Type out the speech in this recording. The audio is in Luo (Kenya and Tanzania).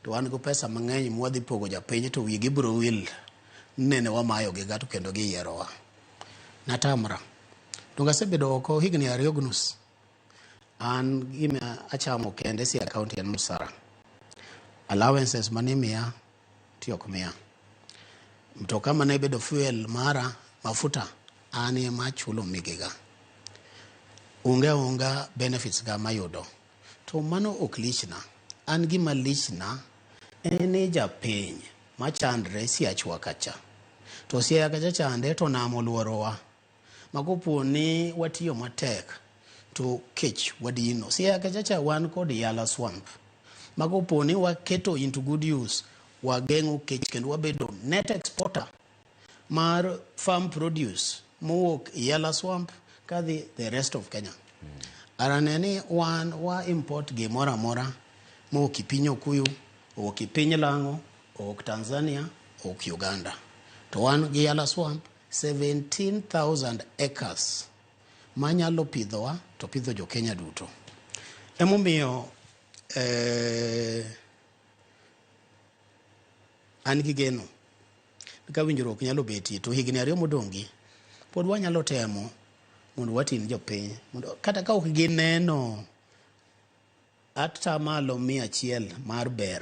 To wan gi pesa mang'eny mwadhi pogo japiny to wigi biro wil nene wamayogiga to kendo giyierowa. Natamra. Donge asebedo oko higni ariyo gi nus? An gima achamo kende si akaunti en msara. Allowances mane imiya ti ok miya. Mtoka mane bedo fuel mara mafuta an ema achulo migiga. Onge onga benefits ga mayudo. To mano ok lichna. An gima lichna en ni japiny machandre siachwa kacha. To siaya kacha chande to nam oluorowa. Ma kopo ni watiyo matek to kech wadino. Siaya kacha cha wan kod Yala Swamp. Ma kopo ni waketo into good use, wageng'o kech kendo wabedo net exporter. mar farm produce mowuok Yala Swamp kadhi the rest of Kenya. Ara ne ni wan wa import gimoro amora mowuok e piny Okuyu, owuok e piny Lang'o, owuok Tanzania, owuok Uganda. To wan gi Yala Swamp 17,000 acres manyalo pidhowa to pidho jo Kenya duto. Emomiyo eh, An gi geno ni ka winjruok nyalo betie to higni ariyo modong'gi pod wanyalo temo mondo watin jopiny mondo kata ka ok gineno atamalo mia achiel mar ber